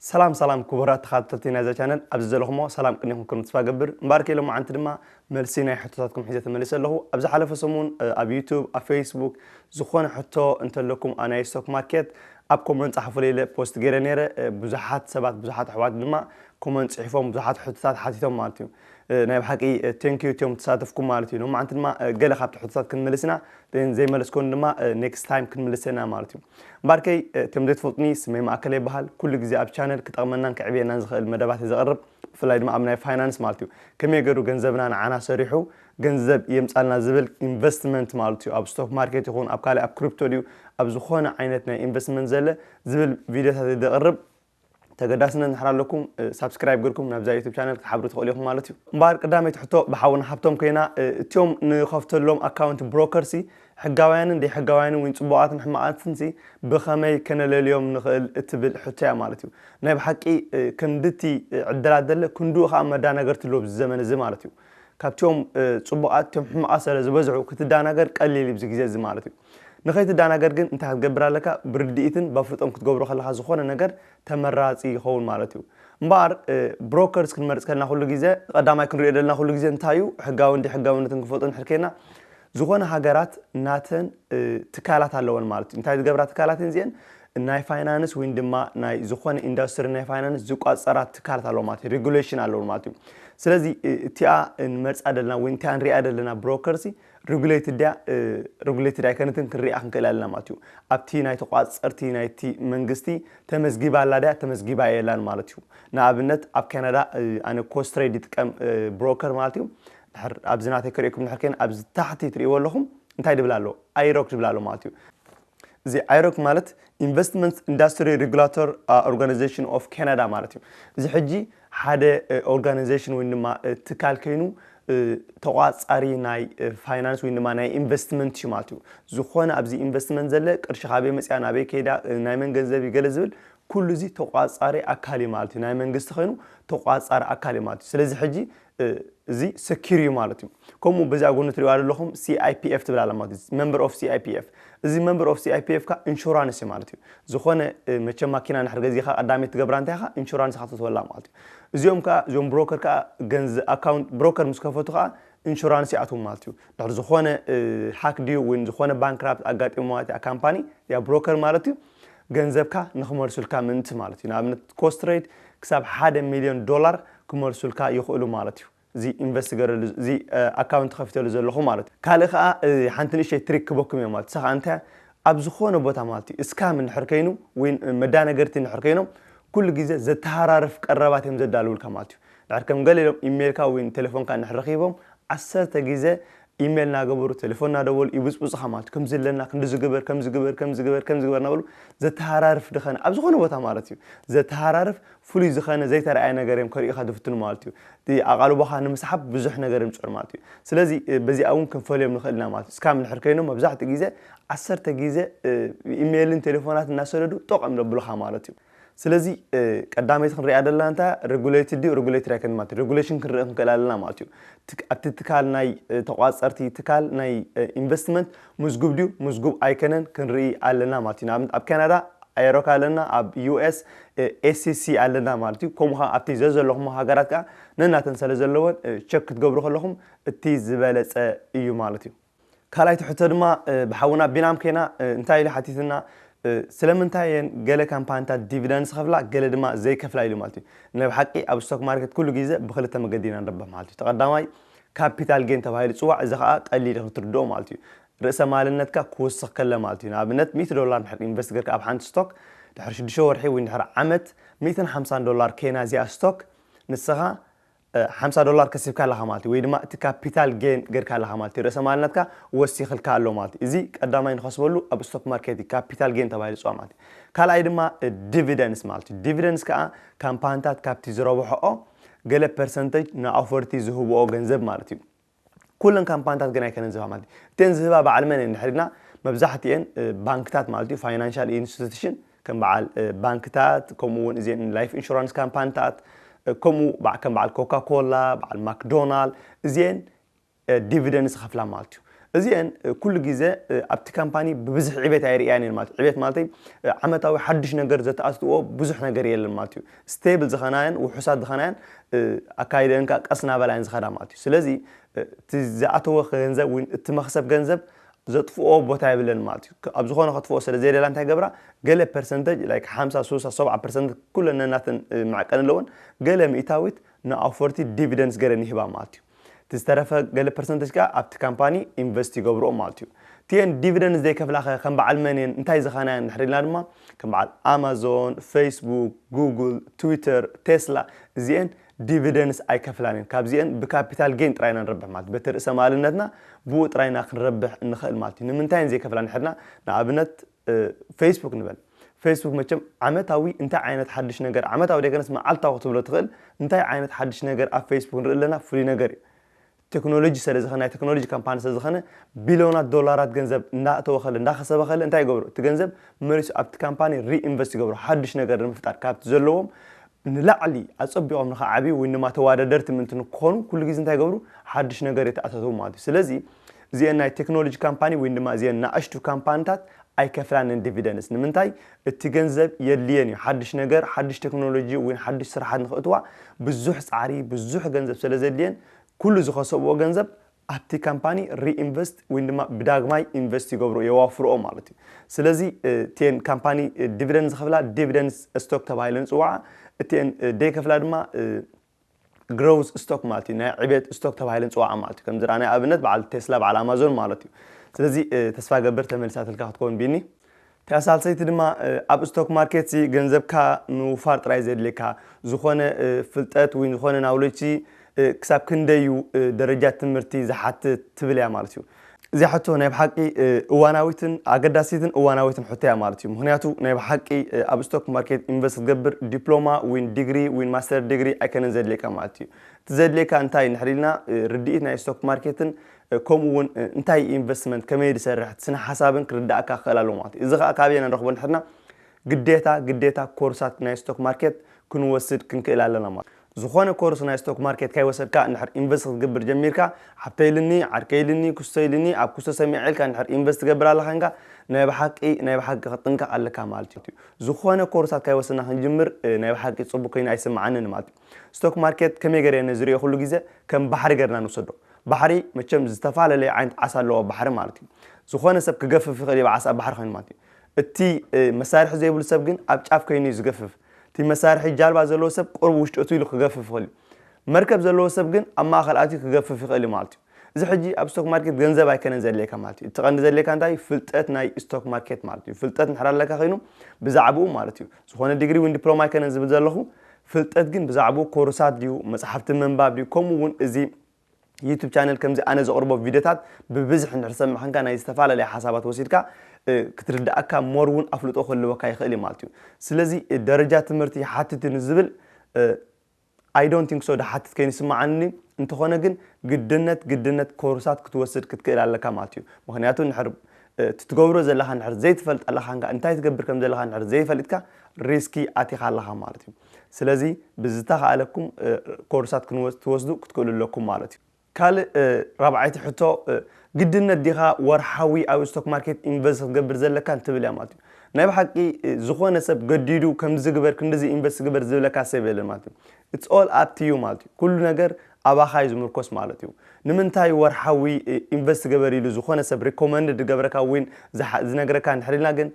ሰላም ሰላም ክቡራት ተኻታተልቲ ናይዛ ቻነል ኣብዚ ዘለኹሞ ሰላም ቅኒኹም ከም ተስፋ ገብር እምበኣርከ ሎማዓንቲ ድማ መልሲ ናይ ሕቶታትኩም ሒዘ ተመሊሰ ኣለኹ ኣብ ዝሓለፈ ሰሙን ኣብ ዩቱብ ኣብ ፌስቡክ ዝኾነ ሕቶ እንተለኩም ኣናይ ስቶክ ማርኬት ኣብ ኮመንት ጻሓፉለይ ኢለ ፖስት ገይረ ነይረ ብዙሓት ሰባት ብዙሓት ኣሕዋት ድማ ኮመንት ጽሒፎም ብዙሓት ሕቶታት ሓቲቶም ማለት እዩ ናይ ብሓቂ ቴንክ ዩ እትዮም ተሳተፍኩም ማለት እዩ ሎማዓንቲ ድማ ገለ ካብቲ ሕቶታት ክንምልስ ኢና ዘይመለስኮን ድማ ኔክስት ታይም ክንምልሰ ኢና ማለት እዩ ባርከይ እትዮም ዘይትፈልጡኒ ስመይ ማእከለ ይበሃል ኩሉ ግዜ ኣብ ቻነል ክጠቕመናን ክዕብየናን ዝኽእል መደባት ዘቕርብ ብፍላይ ድማ ኣብ ናይ ፋይናንስ ማለት እዩ ከመይ ገሩ ገንዘብና ንዓና ሰሪሑ ገንዘብ የምፃልና ዝብል ኢንቨስትመንት ማለት እዩ ኣብ ስቶክ ማርኬት ይኹን ኣብ ካልእ ኣብ ክሪፕቶ ድዩ ኣብ ዝኾነ ዓይነት ናይ ኢንቨስትመንት ዘለ ዝብል ቪድዮታት ዘቅርብ ተገዳስነት ንሕር ኣለኩም ሳብስክራይብ ግርኩም ናብዛ ዩቱብ ቻነል ክትሓብሩ ትኽእሉ ኢኹም ማለት እዩ እምበኣር ቅዳመይቲ ሕቶ ብሓውና ሃብቶም ኮይና እትዮም ንኸፍተሎም ኣካውንት ብሮከርሲ ሕጋውያንን ደይሕጋውያንን ወይ ጽቡቓትን ሕማቓትንሲ ብኸመይ ከነለልዮም ንኽእል እትብል ሕቶ እያ ማለት እዩ ናይ ብሓቂ ክንድቲ ዕድላት ደለ ክንድኡ ኸኣ መዳናገርቲ ኣሎ ኣብዚ ዘመን እዚ ማለት እዩ ካብትዮም ጽቡቓት እትዮም ሕማቓት ስለ ዝበዝሑ ክትዳናገር ቀሊል እዩ ብዚ ግዜ እዚ ማለት እዩ ንኸይትዳናገር ግን እንታይ ክትገብር ኣለካ ብርድኢትን ባፍልጦን ክትገብሮ ከለኻ ዝኾነ ነገር ተመራጺ ይኸውን ማለት እዩ እምበኣር ብሮከርስ ክንመርጽ ከልና ኩሉ ግዜ ቀዳማይ ክንሪኦ ዘለና ኩሉ ግዜ እንታይ እዩ ሕጋዊ እንዲ ሕጋዊነትን ክንፈልጦ ንድሕር ከይና ዝኾነ ሃገራት ናተን ትካላት ኣለወን ማለት እዩ እንታይ ዝገብራ ትካላት እየን እዚአን ናይ ፋይናንስ ወይን ድማ ናይ ዝኾነ ኢንዱስትሪ ናይ ፋይናንስ ዝቋፀራ ትካላት ኣለዎ ማለት እዩ ሬጉሌሽን ኣለዎ ማለት እዩ ስለዚ እቲኣ ንመርፃ ደለና ወይ እንታይ ንሪኣ ደለና ብሮከርሲ ረጉሌትድ ድያ ረጉሌትድ ኣይከነትን ክንሪኣ ክንክእል ኣለና ማለት እዩ። ኣብቲ ናይ ተቋጸርቲ ናይቲ መንግስቲ ተመዝጊባ ኣላ ድያ ተመዝጊባ የላን ማለት እዩ። ንኣብነት ኣብ ካናዳ ኣነ ኮስትሬድ ይጥቀም ብሮከር ማለት እዩ። ድሕር ኣብዚ ናተይ ክርእየኩም ድሕር ከይነ ኣብዚ ታሕቲ ትርእይዎ ኣለኹም እንታይ ድብል ኣሎ ኣይሮክ ድብል ኣሎ ማለት እዩ። እዚ ኣይሮክ ማለት ኢንቨስትመንት ኢንዳስትሪ ሬጉላቶር ኦርጋናይዜሽን ኦፍ ካናዳ ማለት እዩ። እዚ ሕጂ ሓደ ኦርጋናይዜሽን ወይ ድማ ትካል ከይኑ ተቋፃሪ ናይ ፋይናንስ ወይ ድማ ናይ ኢንቨስትመንት እዩ ማለት እዩ። ዝኾነ ኣብዚ ኢንቨስትመንት ዘለ ቅርሺ ካበይ መፅያ ናበይ ከይዳ ናይ መን ገንዘብ እዩ ገለ ዝብል ኩሉ እዚ ተቋፃሪ ኣካል እዩ ማለት እዩ። ናይ መንግስቲ ከይኑ ተቋፃሪ ኣካል እዩ ማለት እዩ። ስለዚ ሕጂ እዚ ሰኪር እዩ ማለት እዩ ከምኡ በዚኣ ጎኒ ትሪእዋ ዘለኹም CIPF ትብል ኣላ ማለት እዩ መምበር ኦፍ CIPF እዚ መምበር ኦፍ CIPF ካ ኢንሹራንስ እዩ ማለት እዩ ዝኾነ መቸም ማኪና ንድሕር ገዚኻ ቀዳመይቲ ትገብራ እንታይ ኢኻ ኢንሹራንስ ኢኻ ትወላ ማለት እዩ እዚኦም ከዓ እዞም ብሮከር ከዓ ገንዝ ኣካውንት ብሮከር ምስ ከፈቱ ከዓ ኢንሹራንስ ይኣትዎም ማለት እዩ ድሕር ዝኾነ ሃክ ድዩ ወይ ዝኾነ ባንክራፕት ኣጋጢሞ ማለት እያ ካምፓኒ ያ ብሮከር ማለት እዩ ገንዘብካ ንክመልሱልካ ምእንቲ ማለት እዩ። ንኣብነት ኮስትረይድ ክሳብ ሓደ ሚልዮን ዶላር ክመልሱልካ ይኽእሉ ማለት እዩ። እዚ ኢንቨስት ገረሉ እዚ ኣካውንት ከፊተሉ ዘለኹ ማለት እዩ። ካልእ ከኣ ሓንቲ ንእሽተይ ትሪክ ክበኩም እየ ማለት እዩ። እሳ ከኣ እንታይ እያ ኣብ ዝኾነ ቦታ ማለት እዩ እስካም እንድሕር ከይኑ ወይ መዳነገርቲ እንድሕር ከይኖም ኩሉ ግዜ ዘተሃራርፍ ቀረባት እዮም ዘዳልውልካ ማለት እዩ። እንድሕር ከም ገለ ኢሎም ኢሜልካ ወይ ቴሌፎንካ እንድሕር ረኺቦም ዓሰርተ ግዜ ኢመል ናገበሩ ተለፎን ናደወሉ ይብጽብጹኻ ማለት እዩ ከምዚ ኣለና ክንድዚ ግበር ከምዚ ግበር ከምዚ ግበር ከምዚ ግበር ናበሉ ዘተሃራርፍ ድኸነ ኣብ ዝኾነ ቦታ ማለት እዩ ዘተሃራርፍ ፍሉይ ዝኸነ ዘይተራእየ ነገር እዮም ከርእዩኻ ዝፍትኑ ማለት እዩ እቲ ኣቓልቦኻ ንምስሓብ ብዙሕ ነገር እዮም ዝጽዕሩ ማለት እዩ ስለዚ በዚኣ እውን ክንፈልዮም ንኽእል ኢና ማለት እዩ ስካም እንድሕር ኮይኖም መብዛሕትኡ ግዜ ዓሰርተ ግዜ ኢመልን ቴሌፎናትን እናሰደዱ ጦቕ እዮም ዘብሉኻ ማለት እዩ ስለዚ ቀዳመይቲ ክንሪኣ ዘለና እንታይ እያ? ሬጉሌትድ ድዩ ሬጉሌትድ ኣይኮነን ማለት እዩ። ሬጉሌሽን ክንርኢ ክንክእል ኣለና ማለት እዩ። ትክ- ኣብቲ ትካል ናይ እ፣ ተቋጸርቲ ትካል ናይ እ፣ ኢንቨስትመንት ምዝጉብ ድዩ ምዝጉብ ኣይኮነን ክንርኢ ኣለና ማለት እዩ። ንኣብነት ኣብ ካናዳ ኣየሮካ ኣለና፣ ኣብ ዩኤስ ኤስሲሲ ኣለና ማለት እዩ። ከምኡ ከዓ ኣብቲ ዘዘለኹሞ ሃገራት ከዓ ነናተን ስለ ዘለወን እ፣ ቸክ ክትገብሩ ከለኹም እቲ ዝበለጸ እዩ ማለት እዩ። ካልኣይቲ ሕቶ ድማ ብሓውና ቢናም ከይና እንታይ ኢሉ ሓቲትና ስለምንታይ እየን ገለ ካምፓኒታት ዲቪደንድ ዝኸፍላ ገለ ድማ ዘይከፍላ ኢሉ ማለት እዩ ናይ ብሓቂ ኣብ ስቶክ ማርኬት ኩሉ ግዜ ብክልተ መገዲ ኢና ንርብሕ ማለት እዩ ተቀዳማይ ካፒታል ጌን ተባሂሉ ይጽዋዕ እዚ ከዓ ቀሊል እዩ ክትርድኦ ማለት እዩ ርእሰ ማልነትካ ክውስኽ ከለ ማለት እዩ ንኣብነት 100 ዶላር ድሕር ኢንቨስት ገርካ ኣብ ሓንቲ ስቶክ ድሕሪ ሽዱሽተ ወርሒ ወይ ድሕሪ ዓመት ሚእትን ሓምሳን ዶላር ከይና እዚኣ ስቶክ ንስኻ ሓምሳ ዶላር ከሲብካ ኣለኻ ማለት እዩ ወይ ድማ እቲ ካፒታል ጌን ጌርካ ኣለኻ ማለት እዩ ርእሰ ማል ናትካ ወሲኽልካ ኣሎ ማለት እዩ እዚ ቀዳማይ ንኸስበሉ ኣብ ስቶክ ማርኬት እዩ ካፒታል ጌን ተባሂሉ ዝጽዋዕ ማለት እዩ ካልኣይ ድማ ዲቪደንስ ማለት እዩ ዲቪደንስ ከኣ ካምፓንታት ካብቲ ዝረብሖኦ ገለ ፐርሰንተጅ ንኣውፈርቲ ዝህብኦ ገንዘብ ማለት እዩ ኩለን ካምፓንታት ግን ኣይከነን ዝህባ ማለት እዩ እተን ዝህባ በዓል መን እየን ድሕሪ ኢልና መብዛሕትኤን ባንክታት ማለት እዩ ፋይናንሻል ኢንስቲትሽን ከም በዓል ባንክታት ከምኡ እውን እዚን ላይፍ ኢንሹራንስ ካምፓንታት ከምኡ ከም በዓል ኮካ ኮላ በዓል ማክዶናል እዚን ዲቪደንስ ዝኸፍላ ማለት እዩ እዚን ኩሉ ግዜ ኣብቲ ካምፓኒ ብብዝሒ ዕቤት ኣይርእያን እየን ማለት ዕቤት ማለተይ ዓመታዊ ሓዱሽ ነገር ዘተኣትትዎ ብዙሕ ነገር የለን ማለት እዩ ስተብል ዝኸናየን ውሑሳት ዝኸናየን ኣካይደን ከኣ ቀስ ናበላ እየን ዝኸዳ ማለት እዩ ስለዚ እቲ ዝኣተወ ገንዘብ ወይ እቲ መክሰብ ገንዘብ ዘጥፍኦ ቦታ የብለን ማለት እዩ ኣብ ዝኾነ ከጥፍኦ ስለ ዘይደላ እንታይ ገብራ ገለ ፐርሰንተጅ ላይክ 50 60 70 ፐርሰንት ኩለን ነናተን መዕቀኒ ኣለወን ገለ ሚእታዊት ንኣውፈርቲ ዲቪደንስ ገረን ይህባ ማለት እዩ እቲ ዝተረፈ ገለ ፐርሰንተጅ ከኣ ኣብቲ ካምፓኒ ኢንቨስት ይገብርኦ ማለት እዩ። እቲኤን ዲቪደንድ ዘይከፍላ ከ ከም በዓል መን እየን እንታይ ዝኸና እየን እንድሕር ኢልና ድማ ከም በዓል ኣማዞን፣ ፈይስቡክ፣ ጉጉል፣ ትዊተር፣ ቴስላ እዚኤን ዲቪደንስ ኣይከፍላን እየን። ካብዚኤን ብካፒታል ጌን ጥራይ ኢና ንረብሕ ማለት በቲ ርእሰ ማልነትና ብኡ ጥራይ ኢና ክንረብሕ እንኸእል ማለት እዩ። ንምንታይ እየን ዘይከፍላ እንድሕር ኢልና ንኣብነት ፌስቡክ ንበል ፌስቡክ መቸም ዓመታዊ እንታይ ዓይነት ሓድሽ ነገር ዓመታዊ ደገነስ መዓልታዊ ክትብሎ ትኽእል እንታይ ዓይነት ሓድሽ ነገር ኣብ ፌስቡክ ንርኢ ኣለና ፍሉይ ነገር እዩ ቴክኖሎጂ ስለ ዝኸነ ናይ ቴክኖሎጂ ካምፓኒ ስለ ዝኸነ ቢልዮናት ዶላራት ገንዘብ እንዳእተወ ከለ እንዳኸሰበ ከለ እንታይ ይገብሩ እቲ ገንዘብ መሊሱ ኣብቲ ካምፓኒ ሪኢንቨስት ይገብሩ ሓድሽ ነገር ንምፍጣር ካብቲ ዘለዎም ንላዕሊ ኣጸቢቖም ንኸዓብዩ ወይ ድማ ተወዳደርቲ ምእንቲ ንክኾኑ ኩሉ ግዜ እንታይ ይገብሩ ሓድሽ ነገር የተኣታተዉ ማለት እዩ ስለዚ እዚኤን ናይ ቴክኖሎጂ ካምፓኒ ወይን ድማ እዚኤን ናእሽቱ ካምፓንታት ኣይከፍላንን ዲቪደንስ ንምንታይ እቲ ገንዘብ የድልየን እዩ ሓድሽ ነገር ሓድሽ ቴክኖሎጂ ወይን ሓድሽ ስራሓት ንክእትዋ ብዙሕ ፃዕሪ ብዙሕ ገንዘብ ስለ ዘድልየን ኩሉ ዝከሰብዎ ገንዘብ ኣብቲ ካምፓኒ ሪኢንቨስት ወይን ድማ ብዳግማይ ኢንቨስት ይገብርኦ የዋፍርኦ ማለት እዩ ስለዚ እቲኤን ካምፓኒ ዲቪደንስ ዝከፍላ ዲቪደንስ ስቶክ ተባሂለን ይፅዋዓ እቲኤን ደይከፍላ ድማ Growth Stock ማለት እዩ ናይ ዕብየት ስቶክ ተባሂለን ዝጽዋዓ ማለት እዩ ከምዚ ናይ ኣብነት በዓል ቴስላ በዓል ኣማዞን ማለት እዩ ስለዚ ተስፋ ገብር ተመሊሳትልካ ክትከውን ቢኒ እታ ሳልሰይቲ ድማ ኣብ ስቶክ ማርኬት ሲ ገንዘብካ ምውፋር ጥራይ ዘድልየካ ዝኾነ ፍልጠት ወይ ዝኾነ ናውለጅ ሲ ክሳብ ክንደይ እዩ ደረጃ ትምህርቲ ዝሓትት ትብል እያ ማለት እዩ እዚኣ ሕቶ ናይ ብሓቂ እዋናዊትን ኣገዳሲትን እዋናዊትን ሕቶ እያ ማለት እዩ ምክንያቱ ናይ ብሓቂ ኣብ ስቶክ ማርኬት ኢንቨስት ክትገብር ዲፕሎማ ዊን ዲግሪ ዊን ማስተር ዲግሪ ኣይከነን ዘድልየካ ማለት እዩ እቲ ዘድልየካ እንታይ ንሕሪ ኢልና ርድኢት ናይ ስቶክ ማርኬትን ከምኡ እውን እንታይ ኢንቨስትመንት ከመይ ዝሰርሕ ስነ ሓሳብን ክርዳእካ ክኽእል ኣለዎ ማለት እዩ እዚ ከዓ ካበየና ንረኽቦ ንሕርና ግዴታ ግዴታ ኮርሳት ናይ ስቶክ ማርኬት ክንወስድ ክንክእል ኣለና ማለት ዝኾነ ኮርስ ናይ ስቶክ ማርኬት ካይወሰድካ እንድሕር ኢንቨስት ክትገብር ጀሚርካ ሓብተይ ኢልኒ ዓርከይ ኢልኒ ኩሰይ ኢልኒ ኣብ ኩሰ ሰሚዐ ኢልካ እንድሕር ኢንቨስት ትገብር ኣለኻ እንካ ናይ ብሓቂ ናይ ብሓቂ ክትጥንቀቅ ኣለካ ማለት እዩ ዝኾነ ኮርሳት ካይወሰድና ክንጅምር ናይ ብሓቂ ጽቡቅ ኮይኑ ኣይስምዓንን ማለት እዩ ስቶክ ማርኬት ከመይ ገረ እየ ነዝርኦ ኩሉ ግዘ ከም ባሕሪ ገርና ንውሰዶ ባሕሪ መቸም ዝተፋለለየ ዓይነት ዓሳ ኣለዎ ባሕሪ ማለት እዩ ዝኾነ ሰብ ክገፍፍ ይኽእል እዩ ዓሳ ኣብ ባሕሪ ኮይኑ ማለት እዩ እቲ መሳርሒ ዘይብሉ ሰብ ግን ኣብ ጫፍ ከይኑ እዩ ዝገፍፍ እቲ መሳርሒ ጃልባ ዘለዎ ሰብ ቁሩብ ውሽጢ እትው ኢሉ ክገፍፍ ይኽእል እዩ። መርከብ ዘለዎ ሰብ ግን ኣብ ማእኸል ኣትዩ ክገፍፍ ይኽእል እዩ ማለት እዩ። እዚ ሕጂ ኣብ ስቶክ ማርኬት ገንዘብ ኣይከነን ዘድልየካ ማለት እዩ። እቲ ቀንዲ ዘድልየካ እንታይ እዩ ፍልጠት ናይ ስቶክ ማርኬት ማለት እዩ። ፍልጠት እንድሕር ኣለካ ኮይኑ ብዛዕብኡ ማለት እዩ። ዝኾነ ዲግሪ ዊን ዲፕሎማ ኣይከነን ዝብል ዘለኹ። ፍልጠት ግን ብዛዕብኡ ኮርሳት ድዩ፣ መፅሓፍቲ ምንባብ ድዩ ከምኡ እውን እዚ ዩቱብ ቻነል ከምዚ ኣነ ዘቕርቦ ቪድዮታት ብብዝሒ እንድሕር ሰማሕንካ ናይ ዝተፈላለየ ሓሳባት ወሲድካ ክትርድኣካ ሞር እውን ኣፍልጦ ክህልወካ ይኽእል እዩ ማለት እዩ ስለዚ ደረጃ ትምህርቲ ይሓትት እዩ ንዝብል ኣይ ዶንት ቲንክ ሶ ድሓትት ከይኑ ይስምዓኒ እንተኾነ ግን ግድነት ግድነት ኮርሳት ክትወስድ ክትክእል ኣለካ ማለት እዩ ምክንያቱ ንሕር እቲ ትገብሮ ዘለካ ንሕር ዘይትፈልጥ ኣለካ እንታይ ትገብር ከም ዘለካ ንሕር ዘይፈሊጥካ ሪስኪ ኣቲኻ ኣለካ ማለት እዩ ስለዚ ብዝተኻእለኩም ኮርሳት ክትወስዱ ክትክእሉ ኣለኩም ማለት እዩ። ካልእ ራብዓይቲ ሕቶ ግድነት ዲኻ ወርሓዊ ኣብ ስቶክ ማርኬት ኢንቨስት ክትገብር ዘለካን ትብል እያ ማለት እዩ። ናይ ብሓቂ ዝኾነ ሰብ ገዲዱ ከምዚ ግበር ክንድዚ ኢንቨስት ግበር ዝብለካ ሰብ የለን ማለት እዩ። ኢትስ ኦል ኣፕ ቱ ዩ ማለት እዩ። ኩሉ ነገር ኣባኻ እዩ ዝምርኮስ ማለት እዩ። ንምንታይ ወርሓዊ ኢንቨስት ግበር ኢሉ ዝኾነ ሰብ ሪኮመንድ ዝገብረካ ወይ ዝነግረካ እንድሕር ኢልና ግን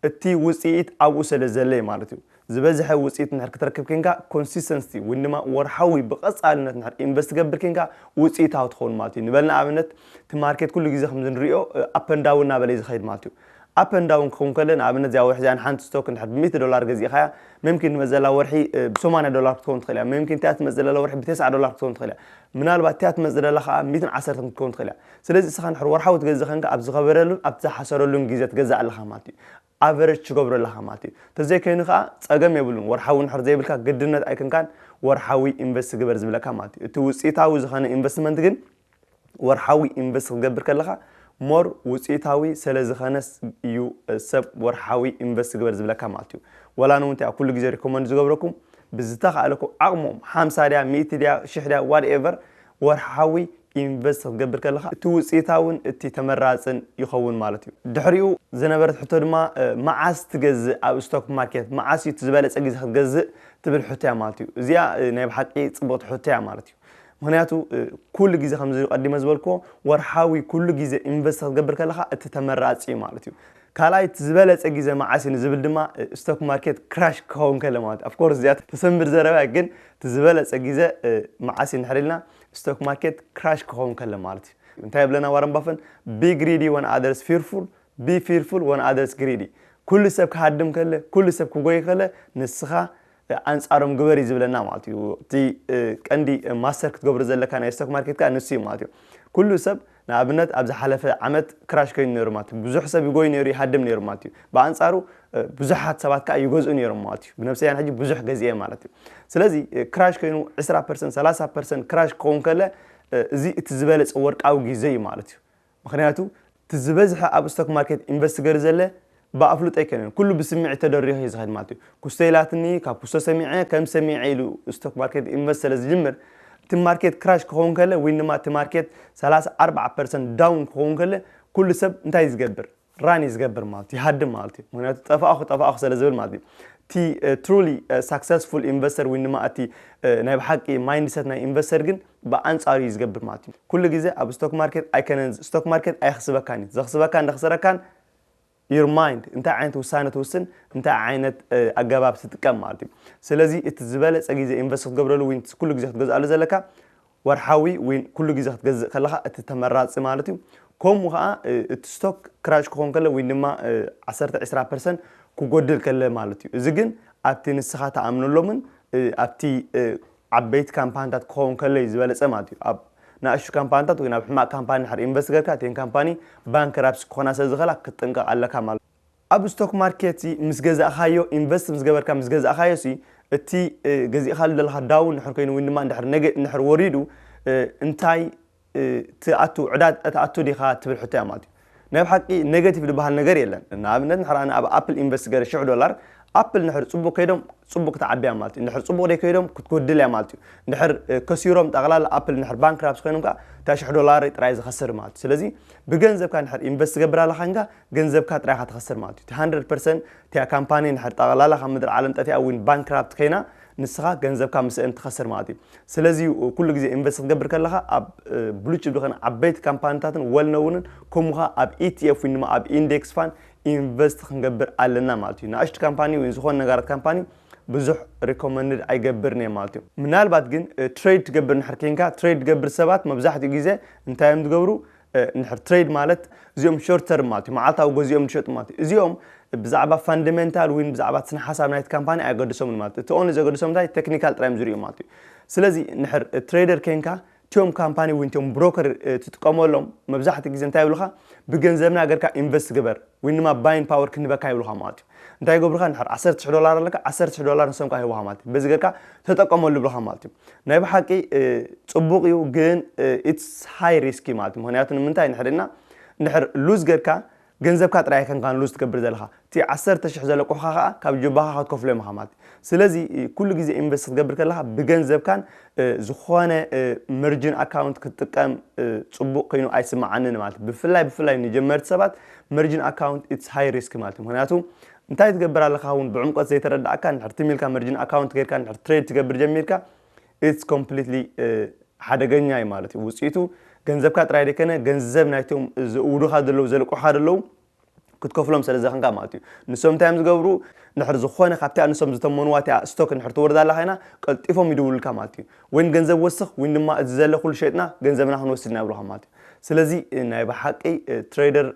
እቲ ውጽኢት ኣብኡ ሰለዘለ እዩ ማለት እዩ። ዝበዝሐ ውጽኢት እንድሕር ክትረክብ ኴንካ፣ Consistency፣ ወይን ድማ ወርሓዊ ብቐጻልነት እንድሕር ኢንቨስት ትገብር ኴንካ ውጽኢታዊ ትኸውን ማለት እዩ። ንበል ንኣብነት እቲ ማርኬት ኩሉ ግዜ ከምዚ ንርእዮ Up and Down እናበለ እዩ ዝኸይድ ማለት እዩ። Up and Down ክኸውን ከሎ ንኣብነት እዚኣ ወርሒ እዚኣ ንሓንቲ ስቶክ እንድሕር ብሚእቲ ዶላር ገዚእኻያ መምኪን ትመጽእ ዘላ ወርሒ ብሰማንያ ዶላር ክትከውን ትኽእል እያ። መምኪን እቲኣ ትመጽእ ዘላ ወርሒ ብተስዓ ዶላር ክትከውን ትኽእል እያ። ምናልባት እቲኣ ትመጽእ ዘላ ከኣ ሚእትን ዓሰርተን ክትከውን ትኽእል እያ። ስለዚ እስኻ እንድሕር ወርሓዊ ትገዝእ ኴንካ ኣብ ዝኸበረሉን ኣብቲ ዝሓሰረሉን ግዜ ትገዝእ ኣለኻ ማለት እዩ። ኣቨረጅ ትገብሮ ኣለኻ ማለት እዩ ተዘይ ከይኑ ከኣ ጸገም የብሉን ወርሓዊ ንድሕር ዘይብልካ ግድነት ኣይክንካን ወርሓዊ ኢንቨስት ግበር ዝብለካ ማለት እዩ እቲ ውጽኢታዊ ዝኸነ ኢንቨስትመንት ግን ወርሓዊ ኢንቨስት ክትገብር ከለኻ ሞር ውጽኢታዊ ሰለ ዝኸነስ እዩ ሰብ ወርሓዊ ኢንቨስት ግበር ዝብለካ ማለት እዩ ወላ ንውን ተያ ኩሉ ግዜ ሪኮመንድ ዝገብረኩም ብዝተኻእለኩም ዓቕሞም ሓምሳ ድያ ሚእቲ ድያ ሽሕ ድያ ዋትኤቨር ወርሓዊ ኢንቨስት ክትገብር ከለኻ እቲ ውፅኢታውን እቲ ተመራፅን ይኸውን ማለት እዩ። ድሕሪኡ ዝነበረት ሕቶ ድማ መዓስ ትገዝእ ኣብ ስቶክ ማርኬት መዓስ እዩ እቲ ዝበለፀ ግዜ ክትገዝእ ትብል ሕቶ እያ ማለት እዩ። እዚኣ ናይ ብሓቂ ፅብቕቲ ሕቶ እያ ማለት እዩ። ምክንያቱ ኩሉ ግዜ ከምዚ ቀዲመ ዝበልክዎ ወርሓዊ ኩሉ ግዜ ኢንቨስት ክትገብር ከለኻ እቲ ተመራፂ እዩ ማለት እዩ። ካልኣይ እቲ ዝበለፀ ግዜ መዓስ እዩ ንዝብል ድማ ስቶክ ማርኬት ክራሽ ክኸውን ከሎ ማለት እዩ። ኣፍኮርስ እዚኣ ተሰንብድ ዘረባ እያ ግን እቲ ዝበለፀ ግዜ መዓስ እዩ እንድሕር ኢልና ስቶክ ማርኬት ክራሽ ክኸውን ከሎ ማለት እዩ። እንታይ ይብለና ዋረን ባፈን ቢ ግሪዲ ወን ኣደርስ ፊርፉል ቢ ፊርፉል ወን ኣደርስ ግሪዲ ኩሉ ሰብ ክሃድም ከለ ኩሉ ሰብ ክጎይ ከለ ንስኻ ኣንጻሮም ግበር እዩ ዝብለና ማለት እዩ እቲ ቀንዲ ማስተር ክትገብሩ ዘለካ ናይ ስቶክ ማርኬት ከዓ ንሱ እዩ ማለት እዩ ኩሉ ሰብ ንኣብነት ኣብ ዝሓለፈ ዓመት ክራሽ ከይኑ ነይሩ ማለት እዩ። ብዙሕ ሰብ ይጎይ ነይሩ፣ ይሃድም ነይሩ ማለት እዩ። ብኣንጻሩ ብዙሓት ሰባት ከኣ ይገዝኡ ነይሮም ማለት እዩ። ብነብሰይ ኣነ ሕጂ ብዙሕ ገዚኤ ማለት እዩ። ስለዚ ክራሽ ከይኑ ዕስራ ፐርሰንት፣ ሰላሳ ፐርሰንት ክራሽ ክኸውን ከለ እዚ እቲ ዝበለጸ ወርቃዊ ግዜ እዩ ማለት እዩ። ምኽንያቱ እቲ ዝበዝሐ ኣብ ስቶክ ማርኬት ኢንቨስት ገሩ ዘለ ብኣፍልጦ ኣይከነን ኩሉ ብስምዒት ተደሪኹ እዩ ዝኸድ ማለት እዩ። ኩስቶ ኢላትኒ ካብ ኩስቶ ሰሚዐ ከም ሰሚዐ ኢሉ ስቶክ ማርኬት ኢንቨስት ስለ ዝጅምር እቲ ማርኬት ክራሽ ክኸውን ከለ ወይን ድማ እቲ ማርኬት ሰላሳ ኣርብዓ ፐርሰንት ዳውን ክኸውን ከለ ኩሉ ሰብ እንታይ እዩ ዝገብር ራን እዩ ዝገብር ማለት እዩ ይሃድም ማለት እዩ ምክንያቱ ጠፋእኹ ጠፋእኹ ስለ ዝብል ማለት እዩ እቲ ትሩሊ ሳክሰስፉል ኢንቨስተር ወይን ድማ እቲ ናይ ብሓቂ ማይንድሰት ናይ ኢንቨስተር ግን ብኣንጻሩ እዩ ዝገብር ማለት እዩ ኩሉ ግዜ ኣብ ስቶክ ማርኬት ኣይከነን ስቶክ ማርኬት ኣይኽስበካን እዩ ዘኽስበካን ዘኽስረካን your mind እንታይ ዓይነት ውሳነ ትውስን እንታይ ዓይነት ኣገባብ ትጥቀም ማለት እዩ ስለዚ እቲ ዝበለፀ ግዜ ኢንቨስት ክትገብረሉ ወይ ኩሉ ግዜ ክትገዝኣሉ ዘለካ ወርሓዊ ወይ ኩሉ ግዜ ክትገዝእ ከለካ እቲ ተመራፂ ማለት እዩ ከምኡ ከዓ እቲ ስቶክ ክራሽ ክኾን ከለ ወይ ድማ 10 20 ፐርሰንት ክጎድል ከለ ማለት እዩ እዚ ግን ኣብቲ ንስኻ ተኣምነሎምን ኣብቲ ዓበይቲ ካምፓንታት ክኸውን ከሎ'ዩ ዝበለጸ ማለት'ዩ። ኣብ ናእሽቱ ካምፓንታት ወይ ናብ ሕማቕ ካምፓኒ እንድሕር ኢንቨስት ገርካ እተን ካምፓኒ ባንክራፕሲ ክኾና ስለ ዝኽእላ ክትጥንቀቕ ኣለካ ማለት'ዩ። ኣብ ስቶክ ማርኬት'ሲ ምስ ገዛእካዮ ኢንቨስት ምስ ገበርካ ምስ ገዛእካዮ'ሲ እቲ ገዚእካሉ ዘለኻ ዳውን እንድሕር ኮይኑ ወይ ድማ እንድሕር ነገ እንድሕር ወሪዱ እንታይ ትኣቱ ዕዳ ትኣቱ ዲኻ ትብል ሕቶ እያ ማለት እዩ። ናይ ብሓቂ ነገቲቭ ድበሃል ነገር የለን ንኣብነት ንሕር ኣነ ኣብ ኣፕል ኢንቨስት ገረ ሽሕ ዶላር ኣፕል ንሕር ጽቡቅ ከይዶም ጽቡቅ ክትዓቢ እያ ማለት እዩ ንሕር ጽቡቅ ደይ ከይዶም ክትጎድል እያ ማለት እዩ ንሕር ከሲሮም ጠቅላላ ኣፕል ንሕር ባንክራፕስ ኮይኖም ከኣ እታ ሽሕ ዶላር ጥራይ ዝኸስር ማለት እዩ ስለዚ ብገንዘብካ ንሕር ኢንቨስት ትገብር ኣለኻ እንጋ ገንዘብካ ጥራይ ኢኻ ትኸስር ማለት እዩ እቲ 100% እቲኣ ካምፓኒ ንሕር ጠቅላላ ካብ ምድሪ ዓለም ጠፊኣ ዊን ባንክራፕት ከይና ንስኻ ገንዘብካ ምስእን ትኸስር ማለት እዩ። ስለዚ ኩሉ ግዜ ኢንቨስት ክትገብር ከለኻ ኣብ ብሉ ቺፕ ዝኾነ ዓበይቲ ካምፓኒታትን ወልነውንን ከምኡኻ ኣብ ኢቲኤፍ ወይ ድማ ኣብ ኢንዴክስ ፋን ኢንቨስት ክንገብር ኣለና ማለት እዩ። ንኣሽቱ ካምፓኒ ወይ ዝኾነ ነጋራት ካምፓኒ ብዙሕ ሪኮመንድ ኣይገብርን እየ ማለት እዩ። ምናልባት ግን ትሬድ ትገብር እንድሕር ኬንካ ትሬድ ትገብር ሰባት መብዛሕትኡ ግዜ እንታይ እዮም ዝገብሩ እንድሕር ትሬድ ማለት እዚኦም ሾርት ተርም ማለት እዩ መዓልታዊ ገዚኦም ዝሸጡ ማለት እዩ እዚኦም ብዛዕባ ፋንደሜንታል ወይ ብዛዕባ ስነ ሓሳብ ናይቲ ካምፓኒ ኣየገድሶምን ማለት እዩ እቲ ኦንሊ ዘገድሶም እንታይ ቴክኒካል ጥራዮም ዝርእዩ ማለት እዩ ስለዚ እንድሕር ትሬደር ኮንካ እቲኦም ካምፓኒ ወይ እቲኦም ብሮከር ትጥቀመሎም መብዛሕትኡ ግዜ እንታይ ይብሉኻ ብገንዘብና ገርካ ኢንቨስት ግበር ወይ ንማ ባይንግ ፓወር ክንህበካ ይብሉኻ ማለት እዩ እንታይ ይገብሩኻ እንድሕር ዓሰርተ ሽሕ ዶላር ኣለካ ዓሰርተ ሽሕ ዶላር ንሶም ከዓ ይህቡኻ ማለት እዩ በዚ ጌርካ ተጠቀመሉ ይብሉኻ ማለት እዩ ናይ ብሓቂ ፅቡቅ እዩ ግን ኢትስ ሃይ ሪስኪ ማለት እዩ ምክንያቱ ንምንታይ እንድሕር ኢልና እንድሕር ሉዝ ጌርካ ገንዘብካ ጥራይ ኣይከንካን ሉዝ ትገብር ዘለኻ እቲ ዓሰርተ ሽሕ ዘለቁሑኻ ከዓ ካብ ጅባኻ ክትከፍሎም ኢኻ ማለት እዩ ስለዚ ኩሉ ግዜ ኢንቨስት ክትገብር ከለኻ ብገንዘብካን ዝኾነ መርጅን ኣካውንት ክትጥቀም ፅቡቅ ኮይኑ ኣይስማዓንን ማለት ብፍላይ ብፍላይ ንጀመርቲ ሰባት መርጅን ኣካውንት ኢትስ ሃይ ሪስክ ማለት ምክንያቱ እንታይ ትገብር ኣለካ እውን ብዕምቆት ዘይተረዳእካ ንድሕር ትም ኢልካ መርጅን ኣካውንት ገይርካ ንድሕር ትሬድ ትገብር ጀሚርካ ኢትስ ኮምፕሊትሊ ሓደገኛ እዩ ማለት እዩ ውፅኢቱ ገንዘብካ ጥራይ ደይከነ ገንዘብ ናይቶም ዘእውዱኻ ዘለዉ ዘልቁሓ ዘለዉ ክትከፍሎም ሰለ ዝደኸንካ ማለት እዩ። ንሶም እንታይ እዮም ዝገብሩ ንድሕር ዝኾነ ካብቲኣ ንሶም ዝተመንዋ እቲኣ ስቶክ ንድሕር ትወርድ ኣላ ኮይና ቀልጢፎም ይድውሉልካ ማለት እዩ። ወይን ገንዘብ ወስኽ ወይን ድማ እዚ ዘለ ኩሉ ሸጥና ገንዘብና ክንወስድ ኢና ይብሉኻ ማለት እዩ። ስለዚ ናይ ብሓቂ ትሬደር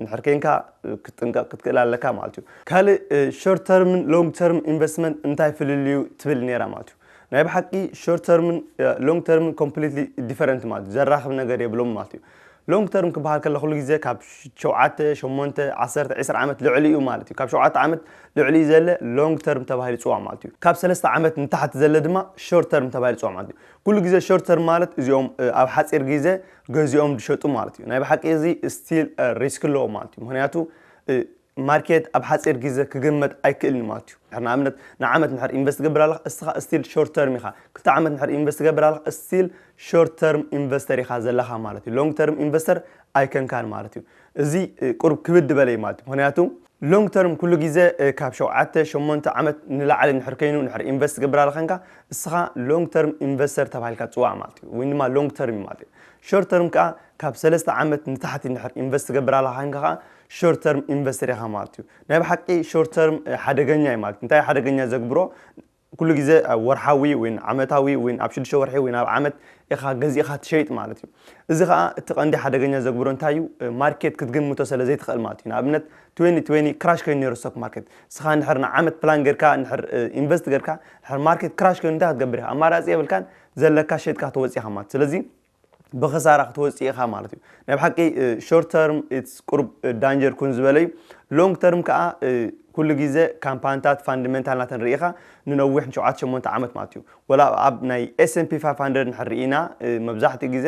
ንድሕር ኬንካ ክትጥንቀቕ ክትክእል ኣለካ ማለት እዩ። ካልእ ሾርት ተርምን ሎንግ ተርም ኢንቨስትመንት እንታይ ፍልልዩ ትብል ኔራ ማለት እዩ። ናይ ብሓቂ ሾርት ተርምን ሎንግ ተርምን ኮምፕሊትሊ ዲፈረንት ማለት እዩ። ዘራኽብ ነገር የብሎምን ማለት እዩ። Long term ክበሃል ከሎ ኩሉ ግዜ ካብ ሸውዓተ፣ ሸሞንተ፣ ዓሰርተ፣ ዕስራ ዓመት ልዕሊኡ ማለት እዩ። ካብ ሸውዓተ ዓመት ልዕሊኡ ዘለ Long term ተባሂሉ ይጽዋዕ ማለት እዩ። ካብ ሰለስተ ዓመት ንታሕቲ ዘለ ድማ Short term ተባሂሉ ይጽዋዕ ማለት እዩ። ኩሉ ግዜ Short term ማለት እዚኦም ኣብ ሓጺር ግዜ ገዚኦም ዝሸጡ ማለት እዩ። ናይ ብሓቂ እዚ Still Risk ኣለዎ ማለት እዩ። ምኽንያቱ ማርኬት ኣብ ሓጺር ግዜ ክግመት ኣይክእልን እዩ ማለት እዩ። ድሕር ንኣብነት ንዓመት ንድሕር ኢንቨስት ትገብር ኣለኻ እስኻ እስቲል ሾርት ተርም ኢኻ። ክልተ ዓመት ንድሕር ኢንቨስት ትገብር ኣለኻ እስቲል ሾርት ተርም ኢንቨስተር ኢኻ ዘለኻ ማለት እዩ። ሎንግ ተርም ኢንቨስተር ኣይከንካን ማለት እዩ። እዚ ቁሩብ ክብድ በለ እዩ ማለት እዩ። ምክንያቱ ሎንግ ተርም ኩሉ ግዜ ካብ ሸውዓተ ሸሞንተ ዓመት ንላዕሊ እንድሕር ከይኑ እንድሕር ኢንቨስት ትገብር ኣለኻ ከንካ እስኻ ሎንግ ተርም ኢንቨስተር ተባሂልካ ትጽዋዕ ማለት እዩ። ወይ ድማ ሎንግ ተርም እዩ ማለት እዩ። ሾርት ተርም ከኣ ካብ ሰለስተ ዓመት ንታሕቲ እንድሕር ኢንቨስት ትገብር ኣለኻ ከንካ ከኣ ሾርት ተርም ኢንቨስተር ኢኻ ማለት እዩ። ናይ ብሓቂ ሾርት ተርም ሓደገኛ እዩ ማለት እንታይ ሓደገኛ ዘግብሮ ኩሉ ግዜ ወርሓዊ ወይ ዓመታዊ ወይ ኣብ ሽዱሽተ ወርሒ ወይ ኣብ ዓመት ኢኻ ገዚእኻ ትሸይጥ ማለት እዩ እዚ ከዓ እቲ ቀንዲ ሓደገኛ ዘግብሮ እንታይ እዩ ማርኬት ክትግምቶ ስለ ዘይትኽእል ማለት እዩ ንኣብነት 2020 ክራሽ ኮይኑ ነይሩ ስቶክ ማርኬት ንስኻ ንድሕር ንዓመት ፕላን ጌርካ ንድሕር ኢንቨስት ጌርካ ንድሕር ማርኬት ክራሽ ኮይኑ እንታይ ክትገብር ኢኻ ኣማራፂ የብልካን ዘለካ ሸይጥካ ትወፅእ ኢኻ ማለት ስለዚ ብኽሳራ ክትወጽእ ኢኻ ማለት እዩ ናይ ብሓቂ ሾርት ተርም ኢትስ ቁርብ ዳንጀር ኩን ዝበለ እዩ ሎንግ ተርም ከኣ ኩሉ ግዜ ካምፓንታት ፋንድመንታል ናተን ርኢኻ ንነዊሕ ንሸውዓተ ሸሞንተ ዓመት ማለት እዩ ወላ ኣብ ናይ ኤስኤምፒ ፋይፍ ሃንድረድ እንድሕር ርኢና መብዛሕትኡ ግዜ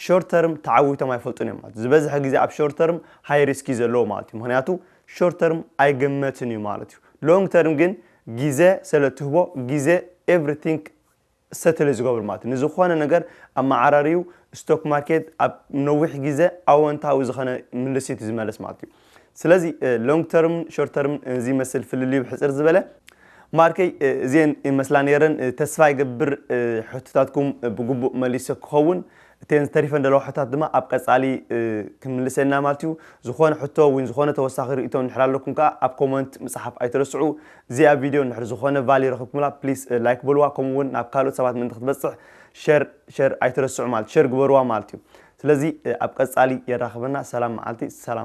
ሾርት ተርም ተዓዊቶም ኣይፈልጡን እዮም ማለት ዝበዝሐ ግዜ ኣብ ሾርት ተርም ሃይ ሪስክ እዩ ዘለዎ ማለት እዩ ምክንያቱ ሾርት ተርም ኣይግመትን እዩ ማለት እዩ ሎንግ ተርም ግን ግዜ ስለ እትህቦ ግዜ ኤቭሪቲንግ ሰትል ዝገብሩ ማለት እዩ። ንዝኾነ ነገር ኣመዓራርዩ ስቶክ ማርኬት ኣብ ነዊሕ ግዘ ኣወንታዊ ዝኸነ ምልሲት ዝመለስ ማለት እዩ። ስለዚ ሎንግ ተርምን ሾርት ተርምን ዝይመስል ፍልልዩ ብሕፅር ዝበለ ማርከይ እዚኤን ይመስላ ነይረን ተስፋ ይገብር ሕቶታትኩም ብግቡእ መሊሰ ክኸውን። እተን ዝተሪፈን ዘለዋ ሕቶታት ድማ ኣብ ቀጻሊ ክንምልሰን ኢና ማለት እዩ። ዝኾነ ሕቶ ወይ ዝኾነ ተወሳኺ ርእይቶ እንድሕር ኣለኩም ከኣ ኣብ ኮመንት ምጽሓፍ ኣይትረስዑ። እዚኣ ቪድዮ እንድሕር ዝኾነ ቫልዩ ረኺብኩምላ ፕሊስ ላይክ በልዋ ከምኡ ውን ናብ ካልኦት ሰባት ምእንቲ ክትበጽሕ ሸር ሸር ኣይትረስዑ ማለት ሸር ግበርዋ ማለት እዩ። ስለዚ ኣብ ቀጻሊ የራኽበና ሰላም መዓልቲ ሰላም።